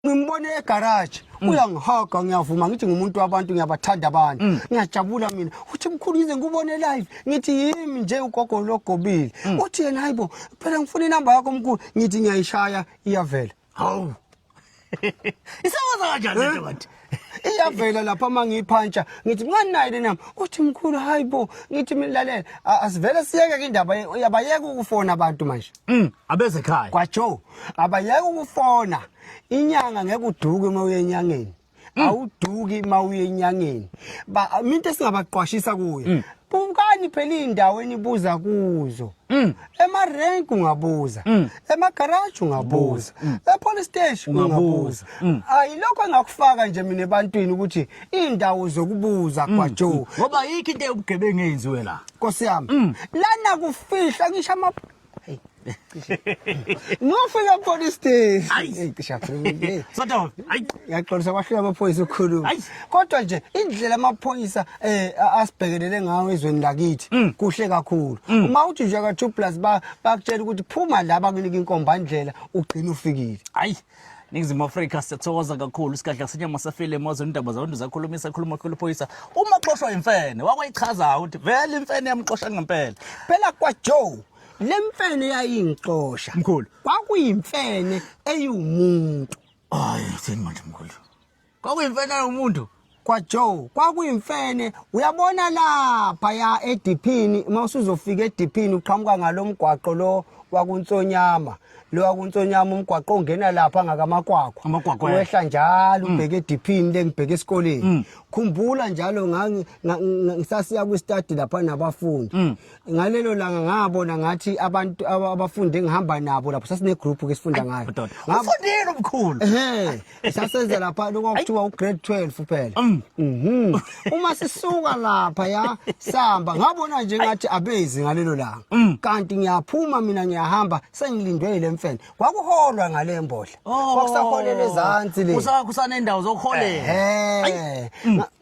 ngimbone egaraji mm. uyangihoga ngiyavuma ngithi ngumuntu wabantu ngiyabathanda abantu mm. ngiyajabula mina uthi mkhulu ngize ngikubone live ngithi yimi nje ugogo logobile mm. uthi yena hayibo phela ngifuna inamba yakho mkhulu ngithi ngiyayishaya iyavela hawu isakwaza kanjani eh? nje bathi iyavela lapha uma ngiyiphantsha ngithi mncane naye lenami uthi mkhulu hayi bo ngithi milalela asivele siyeke-ke indaba abayeke ukufona abantu manje mm, abeze khaya kwajoe abayeke ukufona inyanga ngeke uduke uma uye enyangeni mm. awuduki uma uye enyangeni minto esingabaqwashisa kuyo mm. bukani phela iy'ndawo enibuza kuzo Mm. emarenk ungabuza mm. emagaraji ungabuza mm. epolice station ungabuza ayilokho engakufaka nje mina ebantwini ukuthi indawo zokubuza kwaJoe ngoba yikho into yobugebengu eyenziwe la Nkosi yami lana kufihla ngisho ama Ngofika police station. Hey cisha. Sodo. Ay. Yaxolisa kwahlula amaphoyisa ukukhuluma. kodwa nje indlela amaphoyisa eh asibhekelele ngawo ezweni lakithi mm. kuhle kakhulu mm. uma uthi nje ka 2 plus ba bakutshela ukuthi phuma la bakunika inkomba indlela ugcina ufikile hayi Ningizimu Afrika siyathokoza kakhulu sigadla sinyama safile emozweni indaba zabantu zakhuluma isakhuluma khulu phoyisa uma xoshwa imfene wakwayichaza ukuthi vele imfene yamxosha ngempela phela kwa Joe lemfene yayingixosha mkhulu kwakuyimfene eyiwumuntu ay sini manje mkhulu kwakuyimfene yomuntu kwajoe kwakuyimfene uyabona lapha ya ediphini uma usuzofika ediphini uqhamuka ngalo mgwaqo lo wakunsonyama lo wakunsonyama umgwaqo ongena lapha ngakamakwakho Amakwakho, eh. wehla njalo ubheke ediphini le ngibheke esikoleni Mm. khumbula njalo ngangi- nga- nga- ngisasiya kwistadi lapha nabafundi Mm. ngalelo langa ngabona ngathi abantu aba- abafundi engihamba nabo lapho sasinegroup ke sifunda ngayo Madoda, Ngab- ufundile umkhulu Ehhe. Sasenze lapha lokuthiwa ugrade 12 kuphela. Mm. Mhm. Uma sisuka lapha ya samba ngabona nje ngathi abezi ngalelo langa. Mm. Kanti ngiyaphuma mina ngiyahamba sengilindwe ile mfene. Kwakuholwa ngale mbodla. Oh. Kwakusaholela ezantsi le. Kusaka kusane indawo zokuholela. Eh.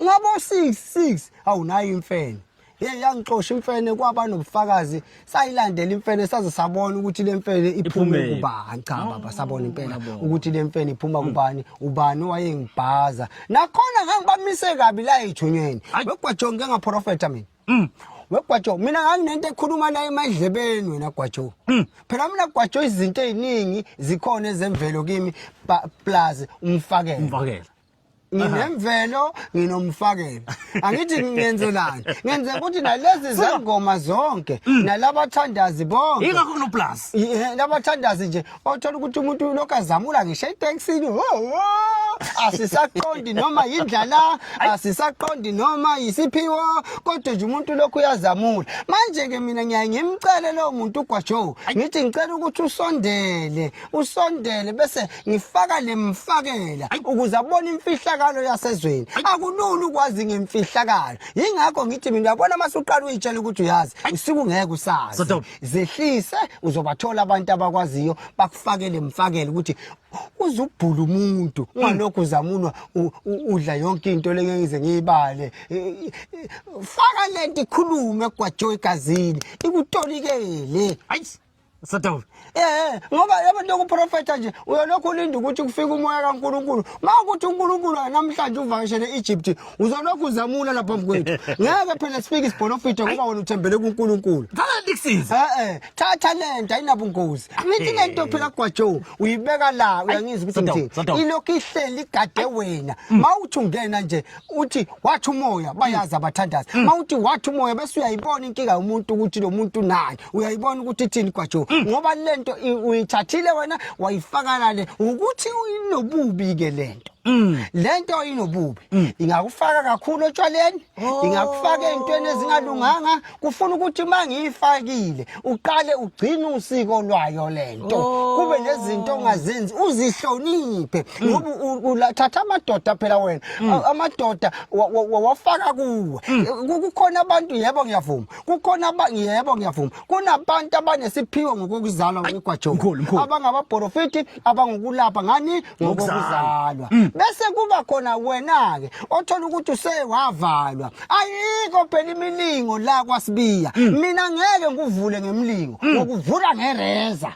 Ngabo 6 6 awunayo imfene. Hey yangixosha imfene kwaba nobufakazi sayilandela imfene saze sabona ukuthi lemfene iphuma kubani cha oh, baba sabona impela ukuthi lemfene iphuma hmm. kubani ubani wayengibhaza nakhona ngangibamise kabi la ethunyeni wegwajo ngeke ngaprofeta mina hmm. wegwajo mina nganginento ekhuluma la emadlebeni wena gwajo hmm. phela mina gwajo izinto eziningi zikhona ezemvelo kimi plus umfakela umfakela nginemvelo nginomfakelo angithi ngingenzelani ngenze ukuthi nalezi zangoma zonke mm. nalabathandazi bonke ingakho kunoplus labathandazi nje othola ukuthi umuntu lokho azamula ngisho itaxini asisaqondi noma yindlala asisaqondi noma yisiphiwo kodwa nje umuntu lokho uyazamula manje ke mina ngiyaye ngimcele lowo muntu ugwajo ngithi ngicela ukuthi usondele usondele bese ngifaka lemfakela ukuze abone imfihlakalo yasezweni akulula ukwazi ngemfihlakalo yingakho ngithi mina uyabona uma suqala uyitshela ukuthi uyazi usukungeke usazi zehlise uzobathola abantu abakwaziyo bakufakele mfakele ukuthi uze ubhula umuntu ungalokhu uzamunwa udla yonke into leke ngize ngiyibale faka lento ikhulume kwajoy igazini ikutolikele Sadov. Eh, eh ngoba yabo lokhu profeta nje uyolokhu ulinda ukuthi kufike umoya kaNkuluNkulu. Makuthi uNkuluNkulu namhlanje uvakashele eEgypt, uzolokhu uzamula lapha phambi kwethu. Ngeke phela sifike isibonofita ngoba wena uthembele kuNkuluNkulu. Thatha ndikusiza. Eh eh, thatha lento ayinabungozi. Ngithi lento eh. phela kwaJo, uyibeka la uyangizwa ukuthi ngithini. Ilokhu ihleli igade wena. Mawuthi mm. ungena nje, uthi wathi umoya bayazi abathandazi mm. mawuthi wathi umoya bese uyayibona inkinga yomuntu ukuthi lo muntu naye uyayibona ukuthi ithini kwajo mm. ngoba lento uyithathile wena wayifakana le ukuthi uyinobubi ke lento mm. lento inobubi ingakufaka kakhulu otshwaleni oh. ingakufaka ezintweni ezingalunganga kufuna ukuthi uma ngiyifakile uqale ugcine usiko lwayo lento oh. kube nezinto ongazenzi uzihloniphe mm. ngoba ulathatha amadoda phela wena mm. amadoda wafaka kuwe mm. kukhona abantu yebo ngiyavuma kukhona yebo ngiyavuma kunabantu abanesiphiwo ngokuzalwa kwegwajogo abangababhorofiti abangokulapha ngani ngokuzalwa mm. bese kuba khona wena ke othola ukuthi usewavalwa ayikho phela imilingo la kwaSibiya mm. mina ngeke nguvule ngemlingo mm. ngokuvula ngereza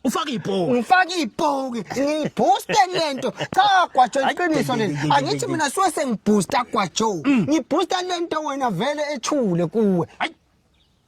ufaka ipoki ngifaka ipoki ngibooste lento cha gwajo iqiniso leli angithi mina suwe sengiboosta gwajo ngiboosta lento wena vele ethule kuwe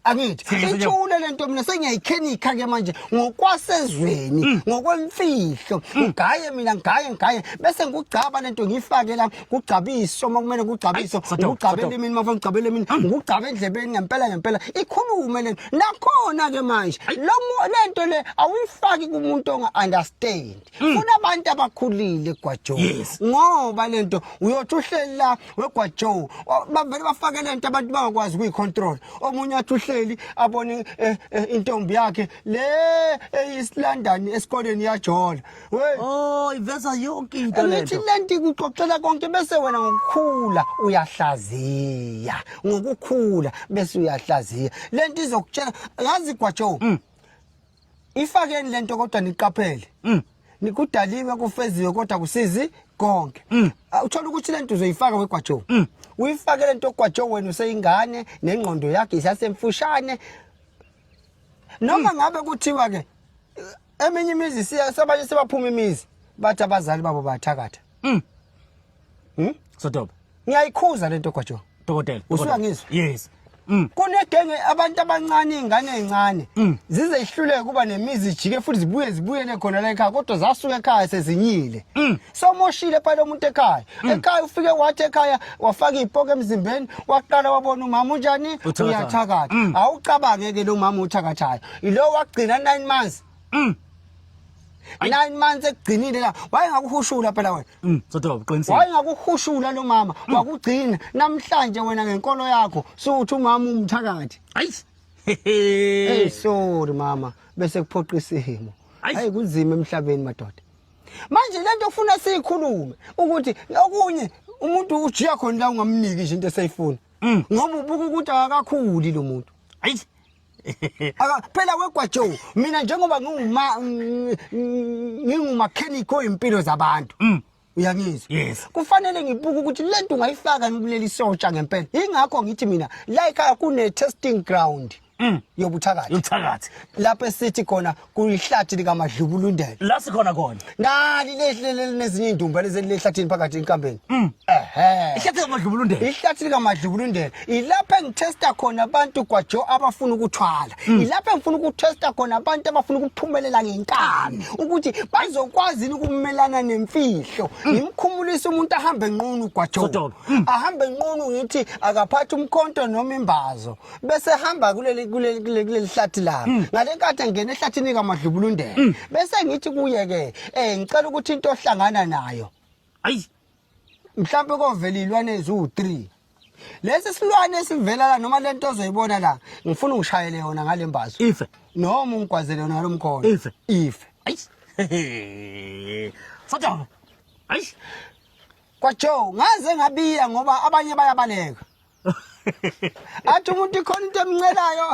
angithi Thengisa nje. sethule le nto mina sengiyayikhenikha ke manje ngokwasezweni Mm. ngokwemfihlo ngigaye mina ngigaye ngigaye bese ngikugcaba le nto ngiyifake la kugcabiso uma kumele kugcabiso Ay, Soto, ngikugcabele Soto. imini mafana ngigcabele imini Mm. ngikugcabe endlebeni ngempela ngempela ikhulume le nto nakhona ke manje lo mu- le nto le awuyifaki kumuntu onga-understand dade mm. funa abantu abakhulile gwajo yes. ngoba lento uyothi uhleli la wegwajo bavele bafake lento abantu bangakwazi ukuyicontrol omunye athi uhleli abone eh, eh, intombi yakhe le eyisilondon esikoleni yajola we oh iveza yonke into lento nithi lento ikuxoxela konke bese wena ngokukhula uyahlaziya ngokukhula bese uyahlaziya lento izokutshela yazi gwajo mm. Ifakeni lento kodwa niqaphele. Mm. Nikudaliwe kufeziwe kodwa kusizi konke. Mm. Ah, uthola ukuthi lento uzoyifaka wegwajo. Mm. Uyifake lento ogwajo wena useyingane nengqondo yakhe isasemfushane. Noma mm. ngabe kuthiwa ke eminye imizi siya sabanye sebaphuma imizi bathi abazali babo bathakatha. Mm. Hmm? Sodoba. Ngiyayikhuza lento kwaJo. Dokotela. Usuka ngizwe. Yes. Mm. kunegenge abantu abancane ingane ezincane mm. zize ihluleke kuba nemizi ijike futhi zibuye zibuyele khona la ekhaya kodwa zasuka ekhaya sezinyile mm. somoshile phela umuntu ekhaya ekhaya ufike wathi ekhaya wafaka ipoke emzimbeni waqala wabona umama unjani uyathakatha awucabange ke lo mama uthakathayo ilo wagcina 9 months Mm. Ay- nine months ekugcinile la wayengakuhushula phela wena Mm, Sotobe uqinisile. wayengakuhushula lo mama wakugcina namhlanje wena ngenkolo yakho suthi umama umthakathi Ay. Hey sorry mama bese kuphoqa isimo. Ayi. Hayi kunzima emhlabeni madoda. Manje lento ufuna siyikhulume ukuthi okunye umuntu ujiya khona la ungamniki nje into esayifuna. Mm. Ngoba ubuka ukuthi akakakhuli lo muntu. Ay. Aka phela wegwajo mina njengoba nginguma ngingumakhenikho impilo zabantu. Mm. uyangizwa yes kufanele ngibuke ukuthi lento ungayifaka kuleli sotsha ngempela ingakho ngithi mina la ekhaya kune testing ground mm. yobuthakathi yobuthakathi lapho esithi khona kuyihlathi likamadlubulundela la sikhona khona nali lezinezinye indumba lezilehlathini phakathi enkambeni mm. ehe ihlathi likamadlubulundela ihlathi likamadlubulundela ilapho engitesta khona abantu gwajo abafuna ukuthwala mm. ilapho engifuna ukutesta khona abantu abafuna ukuphumelela ngenkani mm. ukuthi bazokwazi ukumelana nemfihlo ngimkhumulisa umuntu ahambe nqunu gwajo ahambe nqunu ngithi akaphatha umkhonto noma imbazo bese hamba kuleli kuleli kuleli kuleli hlathi la mm. ngale nkathi engena ehlathini kamadlubulundela mm. bese ngithi kuye ke eh ngicela ukuthi into ohlangana nayo ayi mhlawumbe kovela ilwane eziwu-3 lesi silwane esivela la noma lento ozoyibona la ngifuna ungishayele yona ngale mbazo ife noma ungigwazele yona ngalo mkhono ife ife ayi sodwa ayi kwajoe ngaze ngabiya ngoba abanye bayabaleka athi umuntu ikhona into emncelayo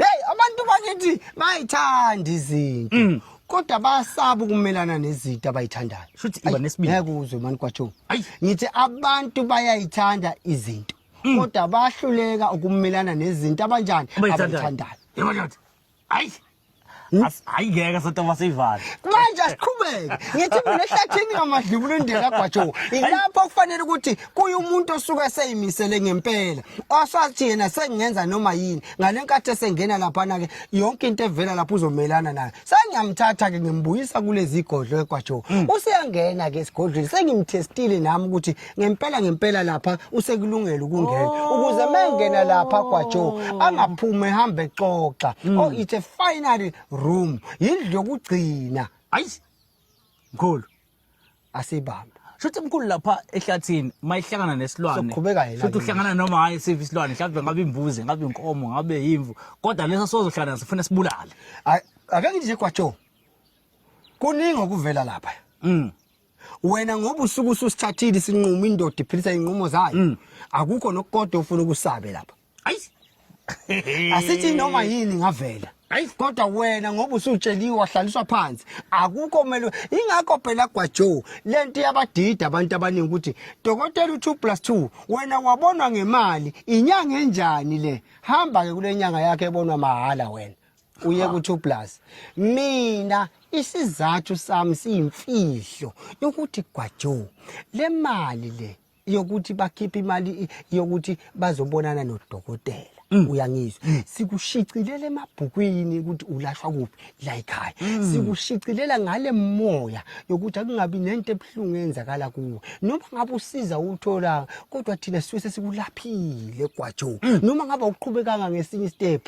hey abantu bakithi bayithanda izinto mm. kodwa bayasaba ukumelana nezinto abayithandayo shuthi iba nesibili ngeke uzwe mani kwacho ngithi abantu bayayithanda izinto mm. kodwa bahluleka ukumelana nezinto abanjani abayithandayo hayi Hmm? hayi ngeke sotoba siyivale manje asiqhubeke ngithi mina ehlathini kamadlibula indela agwajowo ilapho kufanele ukuthi kuye umuntu osuke eseyimisele ngempela osathi yena sengenza noma yini ngale nkathi esengena laphana-ke yonke into evela lapho uzomelana nayo sengiyamthatha-ke ngimbuyisa kulezi godlo egwajowo hmm. useyangena-ke esigodlweni sengimthestile nami ukuthi ngempela ngempela lapha usekulungela ukungena oh. ukuze mengena lapha kwaJo angaphumi ehambe exoxa mm. oh it's a final room yindlu yokugcina ayi mkhulu asibambe shuthi mkhulu lapha ehlathini mayihlangana nesilwane soqhubeka yena shuthi uhlangana noma hayi sivi isilwane mhlawumbe ngabe imbuzi ngabe inkomo ngabe yimvu kodwa lesa sozohlangana sifuna sibulale ake ngithi kwaJo kuningi okuvela lapha mm wena ngoba usuke ususithathile isinqumo indoda iphilisa inqumo zayo mm. akukho nokukodwa ofuna ukusabe lapha ayi asithi noma yini ngavela ayi kodwa wena ngoba usutsheliwe wahlaliswa phansi akukho kumele ingakho phela gwajo lento yabadida abantu abaningi ukuthi dokotela u2 plus 2 wena wabonwa ngemali inyanga enjani le hamba ke kule nyanga yakhe ebonwa mahala wena uye ku-2 plus mina isizathu sami siyimfihlo yokuthi gwajo le mali le yokuthi bakhiphe imali yokuthi bazobonana nodokotela Mm. uyangizwa mm. sikushicilela emabhukwini ukuthi ulashwa kuphi la ekhaya mm. sikushicilela ngale moya yokuthi akungabi nento ebuhlungu eyenzakala kuwe noma ngabe usiza uthola kodwa thina sisuke sesikulaphile gwajo noma ngabe uqhubekanga ngesinye step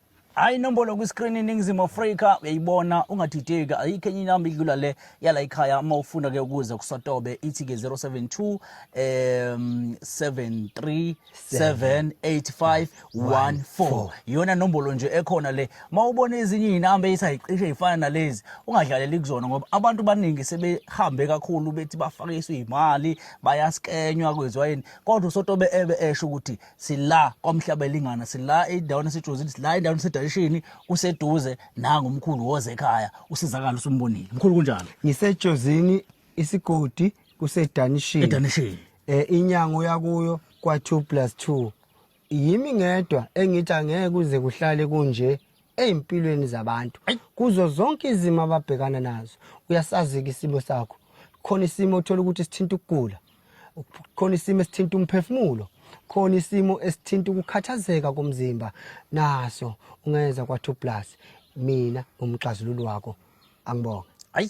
hayi inombolo kwi-screen iningizimu afrika uyayibona ungadideki ayikho enye inamba idlula le yala ikhaya uma ufuna ke ukuze kusotobe ithi ke 072 um 7378514 iyona nombolo nje ekhona le uma ubona ezinye iy'namba eyisayicishe yifana nalezi ungadlaleli kuzona ngoba abantu baningi sebehambe kakhulu bethi bafakiswe imali bayasikenywa kwenziwa yini kodwa usotobe ebe esho ukuthi sila kwamhlaba elingana sila endaweni esejozini sila endaweni esedalishini useduze nangu umkhulu woze ekhaya usizakala usumbonile mkhulu kunjalo ngisejozini isigodi kusedanishini edanishini eh inyango yakuyo kwa 2 plus 2 yimi ngedwa engithi angeke kuze kuhlale kunje ezimpilweni zabantu kuzo zonke izimo ababhekana nazo uyasazika isimo sakho khona isimo othola ukuthi sithinta ukugula khona isimo esithinta umphefumulo khona isimo esithinta ukukhathazeka komzimba naso ungeza kwa2 plus mina umxazululi wakho angibonge ayi